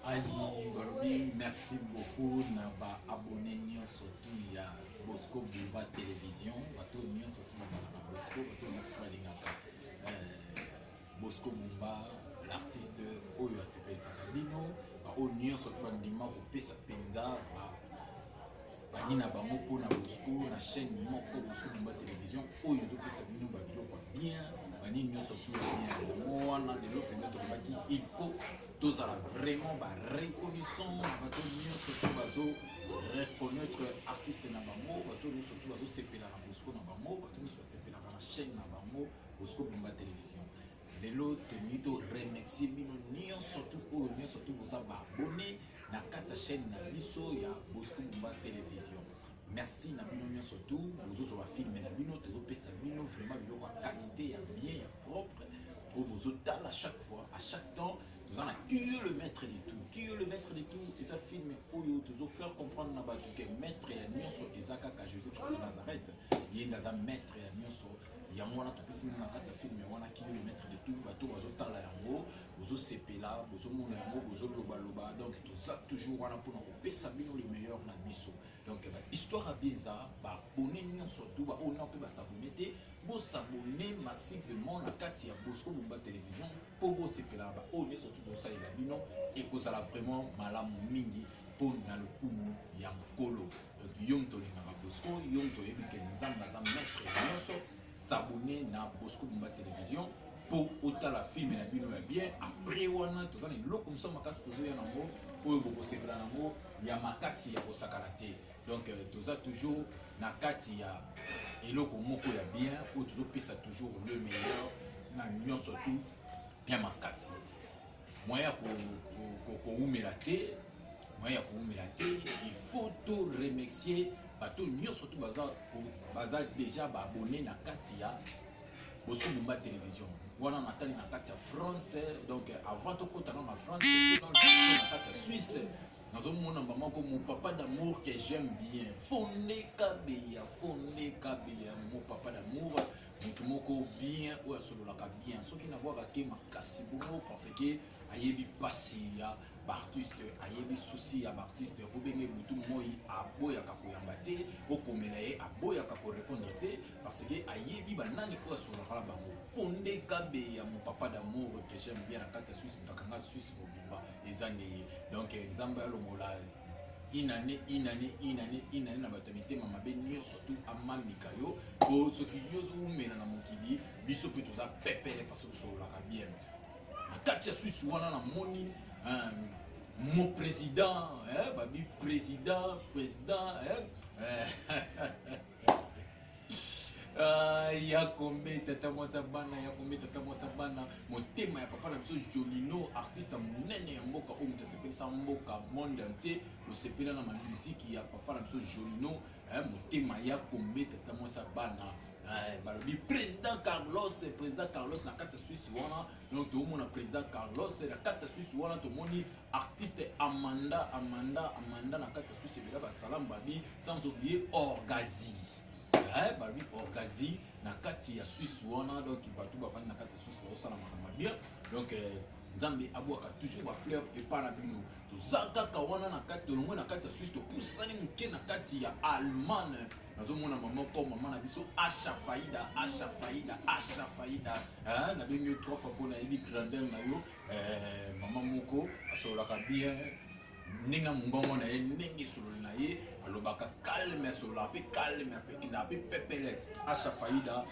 ayi balobi merci beaucoup na ba abonné nyonso tu ya bosco buba télévision bato nyonso tu babalaka bosco bato nyonso tu balingaka euh, bosco bumba l'artiste oyo asepelisaka bino baoyo nyonso tu bandima kopesa mpenza bani na bango mpo na bosco na chaîne moko bosco bumba télévision oyo ezopesa bino babiloko ya bien banini nyonso tu ya bien yango wana lelo mpenza tolobaki il faut tozala vraiment ba reconnaissant na bato nyonso to bazo reconnaître artiste na bango bato nyonso to bazosepela na bosco na bango bato nyonso basepelaka na chaîne na bango bosco bomba télévision lelo tolingi to remercie bino nyonso tu oyo nyonso tu boza baabone na kati ya chaîne na biso ya bosco bomba télévision merci na bino nyonso tu bozozwa bafilme na bino tozopesa bino vraiment biloko ya qualité ya bien ya propre oyo bozotala chaque fois à chaque temps toza na kiyo le maître de tout kiyo le maître de tout eza filme oyo tozofaire comprendre na bato ke maître ya nyonso eza kaka jésus christ de nazareth ye nde aza maître ya nyonso yango wana topesi bino na kati ya filme wana kiyo le maître de tout bato bazotala yango bozosepela bozomona yango bozolobaloba donc toza toujours wana mpona kopesa bino le meilleur na biso donc ba histoire ya bien eza baabone nyonso to baoyo nao mpe basabone te bosabone massivement na kati ya bosco bomba télévision mpo bosepelaka baoyo nyonso to bosalela bino ekozala vraiment malamu mingi mpo na lokumu ya mokolo donc yo moto olingaka bosco yo moto oyebi ke nzambe aza maître ya nyonso sabone na bosco bomba télévision mpo otala filme na bino ya bien après wana toza na eloko mosusu makasi tozoya nango oyo bokosepela nango ya makasi ya kosakana te donc euh, toza toujours na kati ya eloko moko ya bien oyo tozopesa toujours le meilleur na nyonso tu bien makasi moyen ya kowumela te moyen ya kowumela te il faut to remercier bato nyonso tu baza, baza déjà baabone na kati ya bozo bomba télévision wana natali na kati ya france donc avant tokota na na france na kati ya suisse nazomona mba moko mon papa d'amour que j'aime bien fonde kabeya fonde kabeya mo papa d'amour motu moko bien oyo asololaka bien soki nabwaka te makasi bongo parce que ayebi mpasi ya baartiste ayebi susi ya baartiste obenge butu moi aboyaka koyamba te okomela ye aboyaka korepondre te parce que ayebi banani oyo asungaka na bango fonde kabe ya mon papa d'amour que j'aime bien na kati ya suisse moto akanga suisse mobimba eza nde ye donc eh, nzambe alongola une année une année une année une année na bato ya mitema mabe nyonso tu amamika yo po soki yo ozowumela na mokili biso mpe toza pepele parce tosololaka bien na kati ya suisse wana namoni mon président eh, babi président président eh. Ah, ya kombe tata mwasa bana ya kombe tata mwasa bana motema ya papa na biso jolino artiste monene ya mboka oyo moto asepelisa mboka monde entier osepela na mamiziki ya papa na biso jolino eh, motema ya kombe tata mwasa bana eh, balobi président carlos président carlos na kati ya swisse wana donc toomona président carlos na kati ya swisse wana tomoni artiste Amanda Amanda Amanda na kati susi bela ba salam babi sans oublier Orgazi eh babi Orgazi na kati ya Suisse wana donc bato bafandi na kati ya Suisse bazosala makambo bien donc euh, nzambe abwaka toujours bafleur epa na bino toza kaka wana na kati tolongwe na kati ya suisse topusani moke na kati ya allemagne nazomona mama ko mama na biso asha faida asha faida asha faida nabengi yo trois fois mpo nayebi grandeur na yo eh, mama moko asololaka bien ndenge ya mongongo na ye ndenge esololi na ye alobaka calme asololaka mpe calme apekendaka mpe pepele asha faida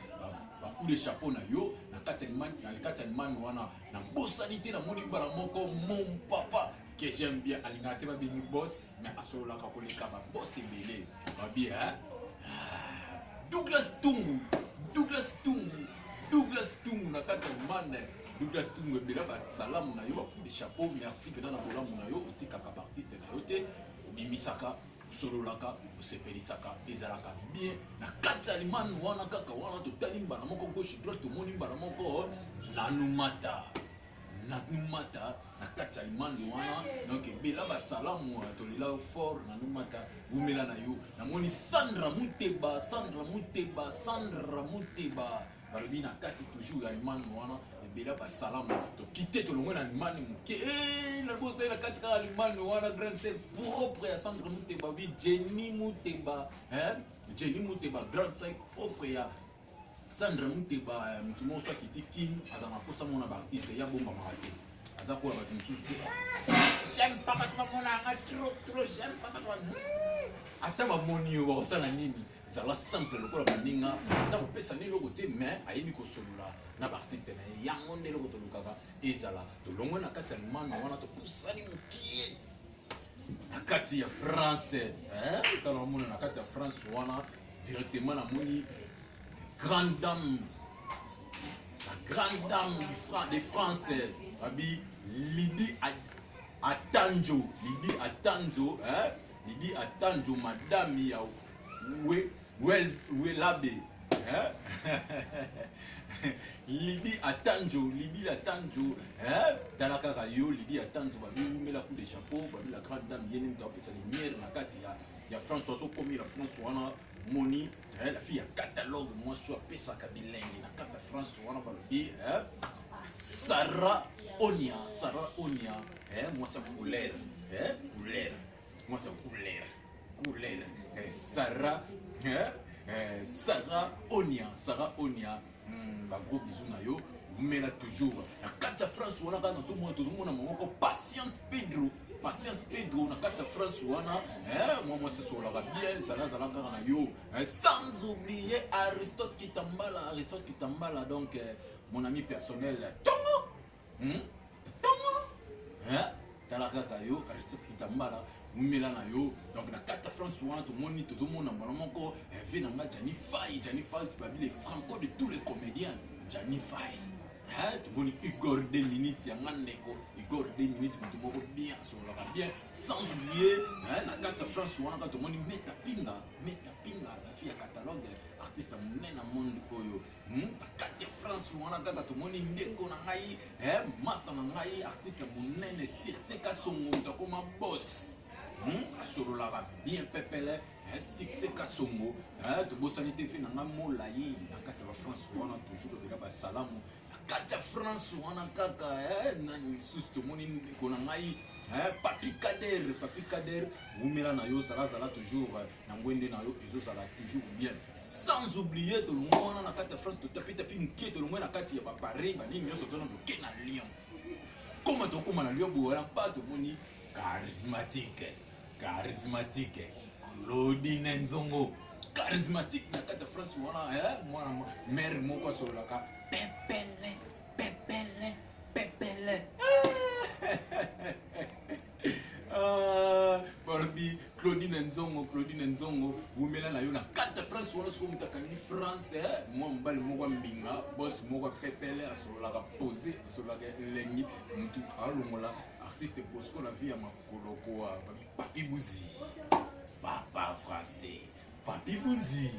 bakout de chapeau na yo na kati ya limani wana na bosani te namoni mbala moko mon papa que j'aime bien alingaka te babengi boss mais asololaka koleka baboss ebele babie hein? Ah, douglas tungu douglas tungu douglas tungu na kati ya limani Douglas Tungu ebela ba salamu na yo de chapeau merci pena na bolamu na yo otikaka ba artiste na yo te obimisaka osololaka osepelisaka ezalaka bien na kati ya limani wana kaka wana totali mbala moko gauche droite tomoni mbala moko nanumata nanumata na kati ya limani wana donc ebela basalamu tolela yo fort nanumata wumela na yo namoni sandra muteba sandra muteba sandra muteba balobi na kati toujours ya allemagne wana ebela basalama tokite tolongwe na allemagne moke eh, na bozali na kati kaka allemagne wana grande sœur propre ya centre muteba obi jenny muteba jenny muteba grande sœur propre ya sandra muteba eh, motu moko so akiti kin aza na mposa mona baartiste ya bombamaka te aza koya bato mosusu te j'aime pas bato bamona yanga trop trop j'aime pas bato ata bamoni yo bakosala nini zala simple lokola baninga ata kopesa nde eloko te mais ayebi kosolola na baartiste na ye yango nde eloko tolukaka ezala tolongwe na kati ya limano wana topusani mokie na kati ya france tala omona na kati ya france wana directement namoni grande dame la grande dame de france abi lidi atanjo lidi atanjo eh? Bibi atanjo madame ya we well we labe hein libi atanjo libi atanjo hein tala kaka yo libi atanjo ba biumela coup de chapeau ba la grande dame yene mtu apesa lumière na kati ya ya France ozo komira France wana moni eh, la fille ya catalogue mwasi oyo apesaka bilengi na kati ya france wana balobi eh, sara onia sara onia eh, mwasi ya couleur eh, couleur mwasi ya couleur couleur eh, sara eh, eh, sara onia sara onia Hmm, ba gros bisous na yo mela toujours na kati ya france wana kaka nazomona tozomona moko patience pedro patience pedro na kati ya france wana eh, mwa mwasi esololaka bien zalazala kaka na yo eh, sans oublier aristote kitambala aristote kitambala donc eh, mon ami personnel tongo Hmm? Tongo. Hein? tala kaka yo aristofita mbala wumela na yo donc na kati ya france wana tomoni tozomona mbala moko inve na nga jani fai jani fai babi le franco de tous les comédiens jani fai tomoni igor 2 minutes ya nga ndeko igor 2 minutes moto moko bien asololaka bien sans oublier na kati ya france wana kaka tomoni meta pinga meta pinga la fille ya catalogue artiste monene na monde oyo Hmm? kati ya france wana kaka tomoni ndeko na ngai eh, master na ngai artiste monene sirse kasongo moto akoma boss Hmm? asololaka bien pepele eh, sikse kasongo eh, tobosani te fe na ngai molai na kati ya bafrance wana toujours epeka basalamu na kati ya france wana kaka eh, nani lisusu tomoni ndeko na ngai papi kader papi kader wumela na yo zalazala toujours na ngwende na yo ezozala toujours bien sans oublier tolongwa wana na kati ya france totapitapi moke tolongwa na kati ya baparis banini nyonso tona toke na lyon koma tokóma na lyon bowana mpa tomoni charismatique charismatique claudine nzongo charismatique na kati ya france wana eh, mwana mare moko asololaka pepele pepele pepele Ah, balobi claudine nzongo claudine nzongo wumela na yo na kata france wana soki moto akangi france eh, mwa mobali moko mbinga bos moko pepele asololaka pose asololaka elengi motu alongola artiste bosco na vie ya makolo koa bakibuzi papa français Papi Buzi,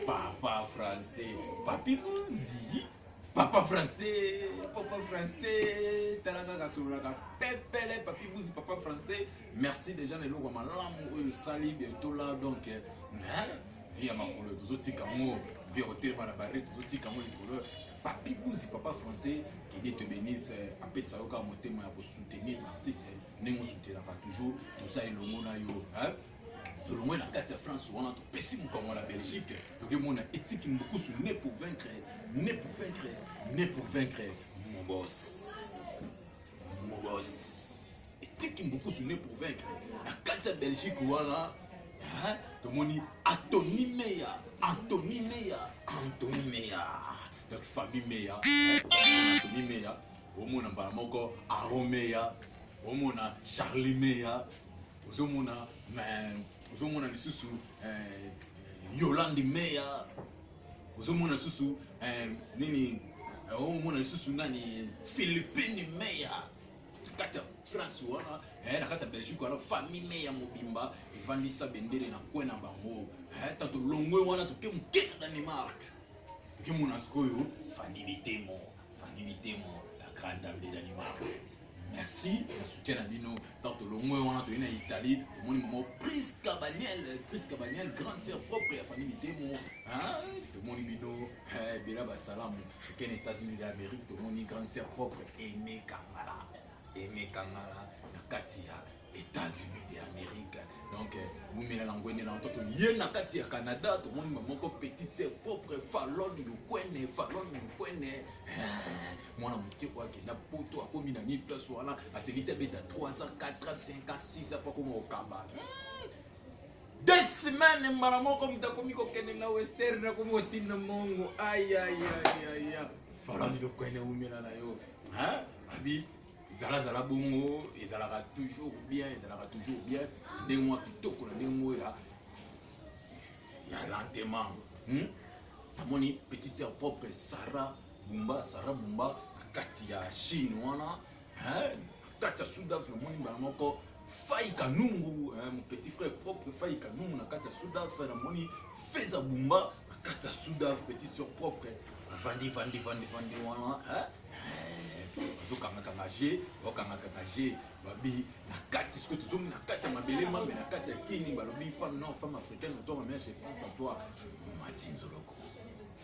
papa français, papi Buzi, papa français, papa français, talaka kasololaka pepele, papi Buzi, papa français. Merci déjà na eloko malamu oyo sali bientôt là donc eh, hein, vie ya makolo tozotika yango vie ya kotelema na bare tozotika yango likolo papi buzi papa français que dieu te bénisse apesa yo kaka motema ya kosoutenir artiste ndenge osutenaka toujours toza elongo na yo hein? tolongwe na kati ya france wana topesi mokongo na belgique tokemona etiki mbukusu ne pour vaincre ne pour vaincre ne pour vaincre mobos mobos etiki mbukusu ne pour vaincre na kati ya belgique wana tomoni antoni meya antoni meya antoni meya donc famille meya antoni meya omona mbala moko aron meya omona charlie meya ozomona ozomona lisusu eh, yolande meya ozomona lisusu eh, nini eh, omona lisusu nani philippine meya kati ya france wana eh, na kati ya belgique wana famille meya mobimba evandisa bendele na kwe na bango ta tolongwe wana toke moke na danemark tokemona sikoyo fani bitemo fani bitemo la grande dame de danemark merci ya soutien na bino ntango tolongwe wana toyei na italie tomoni mama prisca baniel prisca baniel grande sœur propre ya famille mitemo tomoni bino ebela eh, basalamu ekene états-unis d'amérique tomoni grande sœur propre emekangala emekangala na kati ya États-Unis de Amérique. Donc, Boumela Langwene, là, tout yé na kati ya Canada, tout le monde maman ko petite sœur pauvre Fallon le kwene, Fallon le kwene. Moi na muté ko akenda poto akomi na ni place wana, aselita beta 3 ans, 4 ans, 5 ans, 6 ans pa ko mokamba. Des semaines mara moko mtakomi ko kende na western na ko motinda mongo. Aïe aïe aïe aïe. Fallon le kwene umela na yo. Hein? Abi zala zala bongo ezalaka toujours bien ezalaka toujours bien ndenge mwa kitoko na ndenge moko ya ya lentement hmm? amoni petite sœur propre sarah bumba sarah bumba na kati ya chine wana na kati ya sud afrique omoni mbala moko Fayi Kanungu, hein, mon petit frère propre Fayi Kanungu na kati ya Soudan, frère namoni Feza Bumba na kati ya Soudan, petite sœur propre vandi vandi vandi vandi wana hein bazokangakanga je bakangakanga je babi na kati soki tozongi na kati ya mabele mambe na kati ya kini balobi femme non femme africaine oto mamere je pense à toi mati nzoloko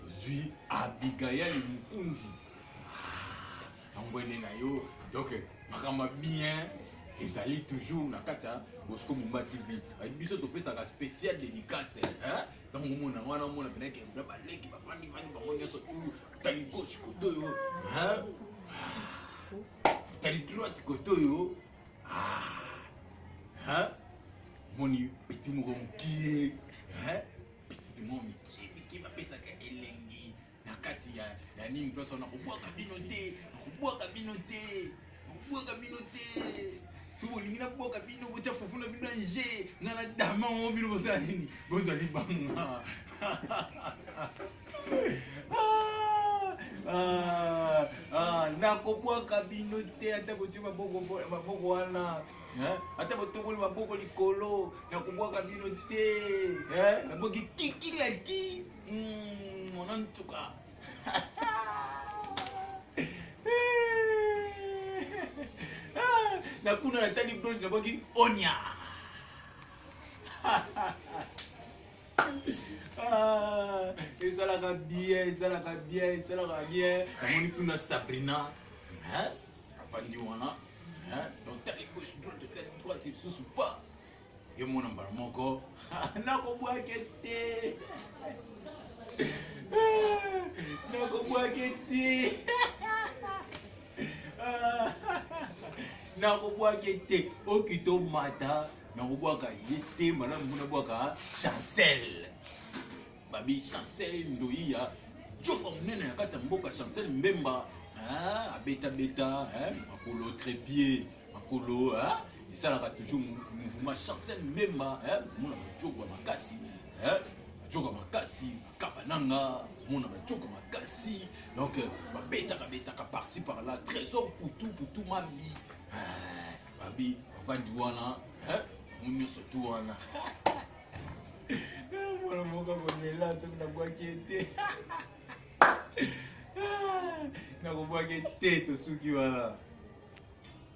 tozwi abigail mokundi angwende ah, na yo donc makambo bien ezali toujours na kati ya bosco mumba tv biso topesaka spécial dédicace ntango omona wana omona penake na baleki bafandi fandi bango nyonso tu tali gauche kote oyo tali droite kote oyo moni petit moko mokie bititi mwa mike mike bapesaka elengi na kati ya ya nini mposo nakobwaka bino te nakobwaka bino te nakobwaka bino te soki bolingi nabwaka bino botya fufu na bino ya nje nga na dama ngo bino bozala nini bozali banga nakobwaka bino te ata kotya maboko wana ata botokoli maboko likolo na kobwaka bino te naboki kikilaki hmm, mona ntuka na kuna natali broche naboki onya ah, ezalaka bien ezalaka bien ezalaka bien namoni kuna sabrina afandi wana donc tali gauche droite tali droite lisusu pa ye mona mbala moko nakobwake te nakobwake te nakobwake te okito mata nakobwaka ye te malamu mpo nabwaka chancelle babi chancel ndoyi ya joba monene na kati ya mboka chancel mbemba hein, abetabeta hein, makolo trepie makolo hein, esalaka toujours mouvement chancel mbemba hein, mona bajogo ya makasi hein, bajogo makasi bakaba nanga mona bajogo makasi donc euh, babetaka betaka parci par là trésor putu putu mami hein, babi bavandi wana hein, mo nyonso tu wana mwana moko akolela soki nabwaki ye te nakobwaki te tosuki wana